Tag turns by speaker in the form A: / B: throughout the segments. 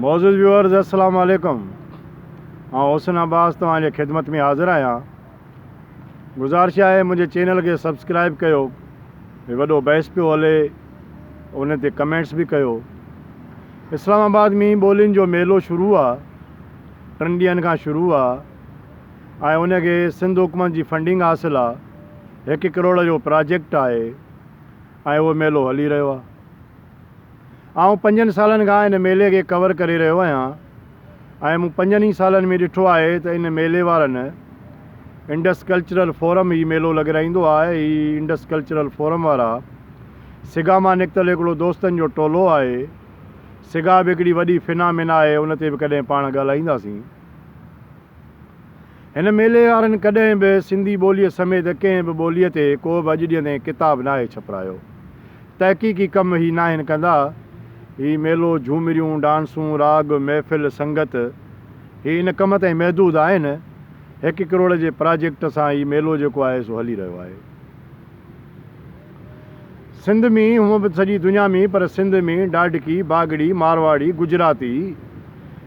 A: معزز ويورز السلام عليڪم آئون حسن عباس توهان جي خدمت ۾ حاضر آهيان گذارش آهي منهنجي چينل کي سبسڪرائب ڪيو هي وڏو بحث پيو هلي ان تي ڪمينٽس به ڪيو اسلام آباد مين ٻولين جو ميلو شروع آ ٽن ڏينهن کان شروع آ ۽ ان کي سنڌ حڪومت جي فنڊنگ حاصل آ هڪ ڪروڙ جو پراجيڪٽ آهي ۽ اهو ميلو هلي رهيو آ آئون پنجن سالن کان ان ميلي کي ڪور ڪري رهيو آهيان ۽ مون پنجن ئي سالن ۾ ڏٺو آهي ته ان ميلي وارن انڊس ڪلچرل فورم هي ميلو لڳرائيندو آهي. هي انڊس ڪلچرل فورم وارا سگا مان نڪتل هڪڙو دوستن جو ٽولو آهي. سگا به هڪڙي وڏي فنا منا آهي ان تي به ڪڏهن پاڻ ڳالهائينداسين. هن ميلي وارن ڪڏهن به سنڌي ٻوليء سميت ڪنهن به ٻوليء تي ڪو به اڄ ڏينهن تائين ڪتاب ناهي ڇپرايو. تحقيقي ڪم هي ناهن ڪندا. هي ميلو، جهومريون، ڊانسون، راڳ، محفل، سنگت، هي ان ڪم تائين محدود آهن. هڪ ڪروڙ جي پراجيڪٽ سان هي ميلو جيڪو آهي سو هلي رهيو آهي. سنڌ ۾ هونء به سڄي دنيا ۾ پر سنڌ ۾ ڊاڍڪي، باگڙي، مارواڙي، گجراتي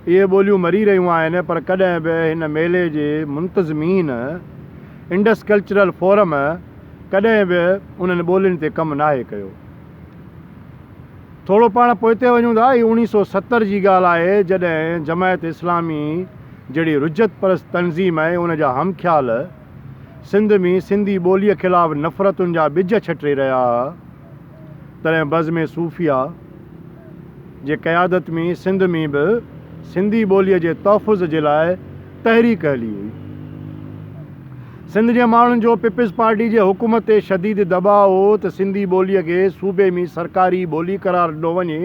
A: اهي ٻوليون مري رهيون آهن پر ڪڏهن به هن ميلي جي منتظمين انڊس ڪلچرل فورم ڪڏهن به انهن ٻولين تي ڪم ناهي ڪيو. ٿورو پاڻ پوئتي وڃون ٿا هي اوڻيهه سؤ ستر جي ڳالهه آهي جڏهن جماعت اسلامي جهڙي رجعت پرست تنظيم ۽ ان جا همخيال، سنڌ ۾ سنڌي ٻوليء خلاف نفرتن جا ٻج ڇٽي رهيا ها، تڏهن بزم صوفياء جي قيادت ۾ سنڌ ۾ به سنڌي ٻوليء جي تحفظ جي لاء تحريڪ هلي هئي. سنڌ جي ماڻهن جو پيپلز پارٽي جي حڪومت تي شديد دٻاء هو ته سنڌي ٻوليء کي صوبي ۾ سرڪاري ٻولي قرار ڏنو وڃي،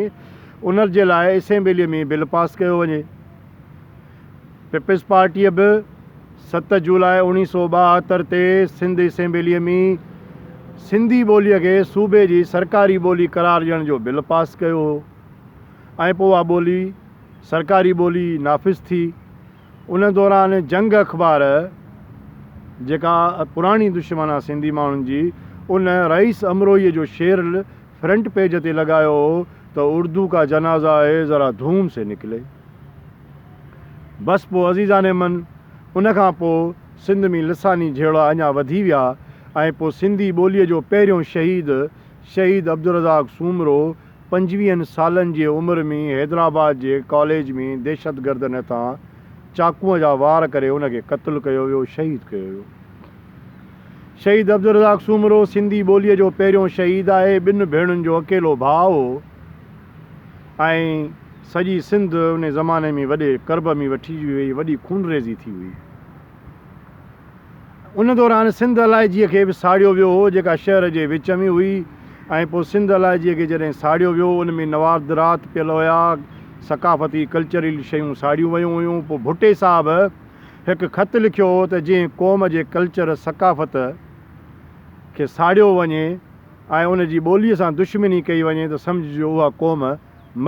A: ان جي لاء اسيمبليء ۾ بل پاس ڪيو وڃي. پيپلزپارٽيء به ست جولاء اوڻيهه سؤ ٻاهتر تي سنڌ اسيمبليء ۾ سنڌي ٻوليء کي صوبي جي سرڪاري ٻولي قرار ڏيڻ جو بل پاس ڪيو هو ۽ پوء اها ٻولي سرڪاري ٻولي نافذ ٿي. ان دوران جنگ اخبار جيڪا پراڻي دشمن آ سنڌي ماڻهن جي ان رئيس امروهيء جو شعر فرنٽ پيج تي لڳايو هو ته اردو ڪا جنازه آئي ذرا ڌوم سي نڪلي بس پو عزيزان من ان کان پو سنڌ مين لساني جهيڙا اڃا وڌي ويا ۽ پو سنڌي ٻولي جو پهريون شهيد شهيد عبدالرزاق سومرو پنجويهن سالن جي عمر مين حيدرآباد جي ڪاليج مين دهشتگردن هٿان چاقوء جا وار ڪري ان کي قتل ڪيو ويو شهيد ڪيو ويو. شهيد عبدالرزاق سومرو سنڌي ٻوليء جو پهريون شهيد آهي، ٻن ڀيڻن جو اڪيلو ڀاء هو ۽ سڄي سنڌ انهي زماني ۾ وڏي ڪرب ۾ وٺي وئي، وڏي خونريزي ٿي هئي. ان دوران سنڌ علائجيء کي به ساڙيو ويو هو، جيڪا شهر جي وچ ۾ هئي ۽ پوء سنڌ علائجيء کي جڏهن ساڙيو ويو، ان ۾ نواردرات پيل هيا، ثقافتي ڪلچرل شيون ساڙيون ويون هيون، پوء ڀٽي صاحب، هڪ خط لکيو هو ته جنهن قوم جي ڪلچر ثقافت کي ساڙيو وڃي ۽ ان جي ٻولي سان دشمني ڪئي وڃي ته سمجهجو اها قوم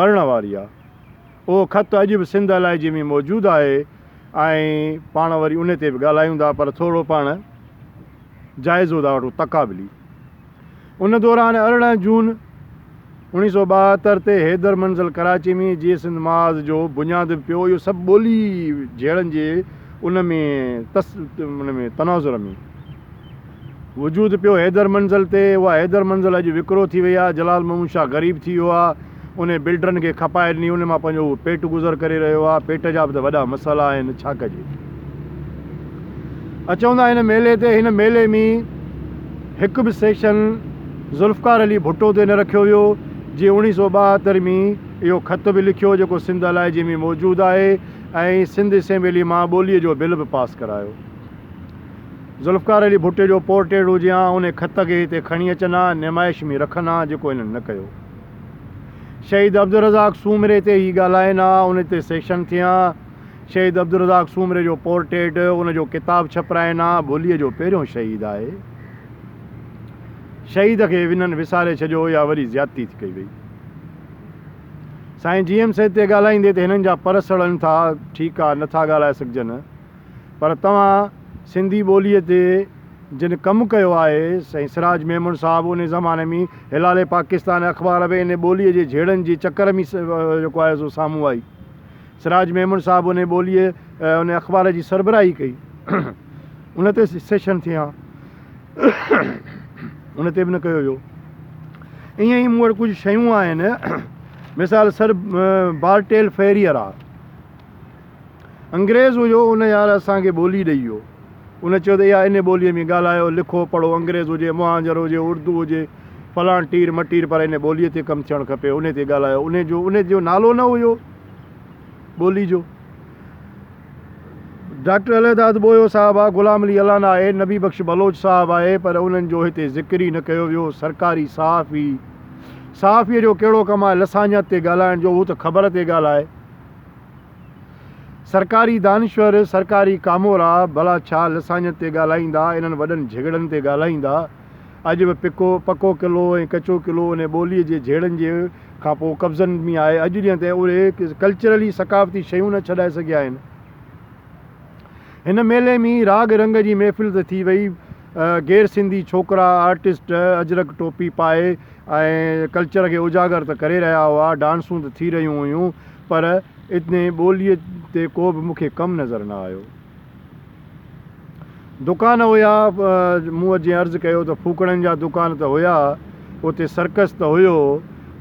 A: مرڻ واري آهي. اهو خط اڄ به سنڌ علائجي ۾ موجود آهي ۽ پاڻ وري ان تي به ڳالهايون ٿا پر ٿورو پاڻ جائزو ٿا وٺون تقابلي. ان دوران ارڙهن جون اوڻيهه سئو ٻاهتر تي حيدر منزل ڪراچي ۾ جي سنڌ محاذ جو بنياد به پيو اهو سڀ ٻولي جهيڙن جي ان ۾ تس ان ۾ تناظر ۾ وجود پيو حيدر منزل تي اها حيدر منزل اڄ وڪرو ٿي وئي آهي جلال محمود شاهه غريب ٿي ويو آهي انهي بلڊرن کي کپائي ڏني انهن مان پنهنجو اهو پيٽ گذر ڪري رهيو آهي پيٽ جا به ته وڏا مسئلا آهن ڇا ڪجي ا چوندا هن ميلي تي هن ميلي مين هڪ به سيڪشن ذوالفقار علي ڀٽو تي نه رکيو ويو جي اوڻي سو ٻاهتر مين اهو خط به لکيو جيڪو سنڌ الائجي مين موجود آهي ۽ سنڌ اسيمبلي مان ٻولي جو بل به پاس ڪرايو ذوالفقار علي ڀٽي جو پورٽيڊ هجي هان انهي خط کي هتي کڻي اچن هان نمائش مين رکن هان جيڪو انهن نه ڪيو شهيد عبدالرزاق سومري تي هي ڳالهائين ها، ان تي سيشن ٿيان. شهيد عبدالرزاق سومري جو پورٽريٽ، ان جو ڪتاب ڇپرائين ها. ڀليء جو پهريون شهيد آهي. شهيد کي ونن وساري ڇڏيو يا وري زيادتي ٿي ڪئي وئي. سائين جي ايم سيد تي ڳالهائيندي ته هنن جا پر سڙن ٿا، ٺيڪ آ، نه ٿا ڳالهائي سگهجن. پر توهان سنڌي ٻوليء تي جن ڪم ڪيو آهي، سائين سراج ميمڻ صاحب انهي زماني ۾ هلال پاڪستان اخبار به انهي ٻوليء جي جهيڙن جي چڪر ۾ جيڪو آهي سو سامهون آئي. سراج ميمڻ صاحب انهي ٻوليء انهي اخبار جي سربراهي ڪئي. ان تي سيشن ٿيا. ان تي به نه ڪيو ويو. ائين ئي مون وٽ ڪجهه شيون آهن. مثال سر بارٽيل فيريئر آهي. انگريز هجو ان يار اسان کي ٻولي ڏئي ويو. ان چيو ته اها انهي ٻوليء ۾ ڳالهايو، لکو، پڙهو، انگريز هجي، مهانجر هجي، اردو هجي، فلان ٽير مٽير پر انهي ٻوليء تي ڪم ٿيڻ کپي، انهي تي ڳالهايو. انهي جو انهي جو نالو نه هيو ٻولي جو. ڊاڪٽر الهداد ٻوهيو صاحب آ، غلام علي الانا آهي، نبي بخش بلوچ صاحب آهي پر انهن جو هتي ذڪر ئي نه ڪيو ويو. سرڪاري صحافي، صحافيء جو ڪهڙو ڪم آهي لسانيات تي ڳالهائڻ جو، هو ته خبر تي ڳالهائي. سرڪاري دانشور، سرڪاري ڪامورا، ڀلا ڇا لسانيت تي ڳالهائيندا، انهن وڏن جهڳڙن تي ڳالهائيندا. اڄ به پڪو پڪو قلعو ۽ ڪچو قلعو انهي ٻوليء جي جهيڙن جي کان پوء قبضن ۾ آهي. اڄ جيئن ته اهي ڪلچرلي ثقافتي شيون نه ڇڏائي سگهيا آهن. هن ميلي ۾ راڳ رنگ جي محفل ته ٿي وئي، غير سنڌي ڇوڪرا آرٽسٽ اجرڪ ٽوپي پائي ۽ ڪلچر کي اجاگر ته ڪري رهيا هئا، ڊانسون ته ٿي رهيون هيون پر اتني ٻوليء تي ڪو به مون کي ڪم نظر نه آيو. دڪان هيا، مون جيئن عرض ڪيو ته ڦوڪڻين جا دڪان ته هيا، اتي سرڪس ته هيو،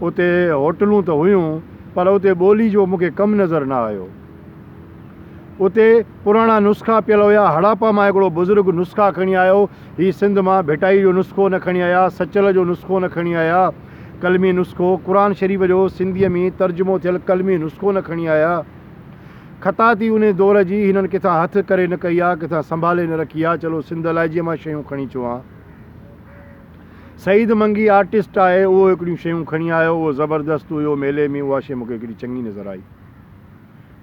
A: اتي هوٽلون ته هيون، پر اتي ٻولي جو مون کي ڪم نظر نه آيو. اتي پراڻا نسخا پيل هيا، هڙاپا مان هڪڙو بزرگ نسخا کڻي آيو، هي سنڌ مان ڀٽائي جو نسخو نه کڻي آيا، سچل جو نسخو نه کڻي آيا، قلمي نسخو، قرآن شريف جو سنڌيء ۾ ترجمو ٿيل قلمي نسخو نه کڻي آيا. خطاطي انهيء دور جي هنن ڪٿان هٿ ڪري نه ڪئي آ، ڪٿان سنڀالي نه رکي آ، چلو سنڌ الائجي مان شيون کڻي اچون ها. سعيد منگي آرٽسٽ آهي، اهو هڪڙيون شيون کڻي آيو، اهو زبردست هيو، ميلي ۾ اها شيء مون کي هڪڙي چڱي نظر آئي،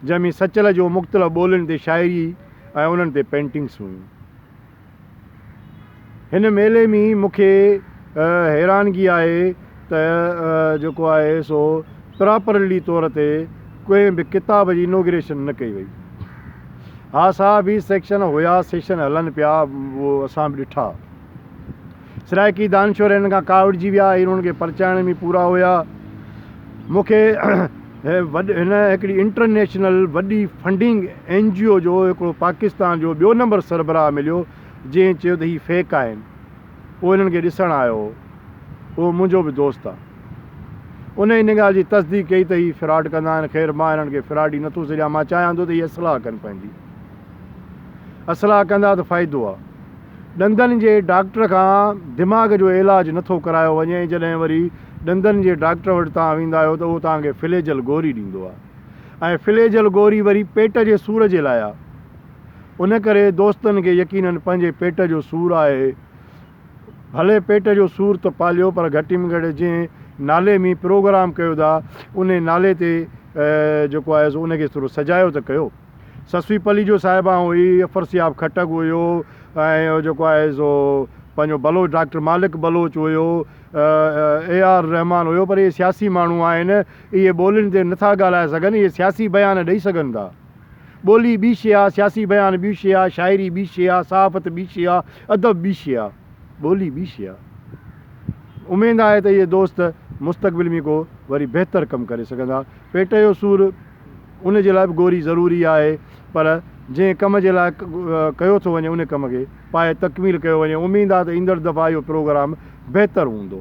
A: جنهن ۾ سچل جو مختلف ٻولين تي شاعري ۽ انهن تي پينٽنگس هيون. هن ميلي مين مونکي حيرانگي آهي ته جيڪو آهي سو پراپرلي طور تي ڪنهن به ڪتاب جي انوگريشن نه ڪئي وئي. ها سا به سيڪشن هيا سيشن هلن پيا اهو اسان به ڏٺا. سرائيڪي دانشور هنن کان ڪاوڙجي ويا ۽ انهن کي پرچائڻ ۾ پورا هيا. مون کي هن هڪڙي انٽرنيشنل وڏي فنڊنگ اين جي او جو هڪڙو پاڪستان جو ٻيو نمبر سربراهه مليو، جنهن چيو ته هي فيڪ آهن. هو هنن کي ڏسڻ آيو هو. اهو منهنجو به دوست آ. ان ان ڳالهه جي تصديق ڪئي ته هي فراڊ ڪندا آهن. خير مان هنن کي فراڊي نه ٿو سڏيان. مان چاهيان ٿو ته هي اصلاح ڪن پنهنجي. اصلاح ڪندا ته فائدو آ. ڏندن جي ڊاڪٽر کان دماغ جو علاج نه ٿو ڪرايو وڃي ۽ جڏهن وري ڏندن جي ڊاڪٽر وٽ توهان ويندا آهيو ته اهو توهان کي فليجل گوري ڏيندو آهي ۽ فليجل گوري وري پيٽ جي سور جي لاء آهي ان ڪري دوستن کي يقينن پنهنجي پيٽ جو سور آهي ڀلي پيٽ جو سور ته پاليو پر گهٽي ۾ گهٽ جنهن نالي مين پروگرام ڪيو ٿا انهي نالي تي جيڪو آهي سو ان کي ٿورو سجايو ته ڪيو. سسوي پلي جو صاحب آئون هي افر سياب خٽڪ هيو ۽ هو جيڪو آهي سو پنهنجو بلوچ ڊاڪٽر مالڪ بلوچ هيو اي آر رحمان هيو پر اهي سياسي ماڻهو آهن اهي ٻولين تي نٿا ڳالهائي سگهن اهي سياسي بيان ڏئي سگهن ٿا ٻولي ٻي شي آهي سياسي بيان ٻي شي آهي شاعري ٻي شي آهي صحافت ٻي شي آهي ادب ٻي شي آهي ٻولي ٻي شي آهي اميد آهي ته اهي دوست مستقبل ۾ ڪو وري بهتر ڪم ڪري سگهندا پيٽ جو سور ان جي لاء به گوري ضروري آهي پر جنهن ڪم جي لاء ڪيو ٿو وڃي ان ڪم کي پائي تڪميل ڪيو وڃي اميد آهي ته ايندڙ دفعا اهو پروگرام بهتر هوندو.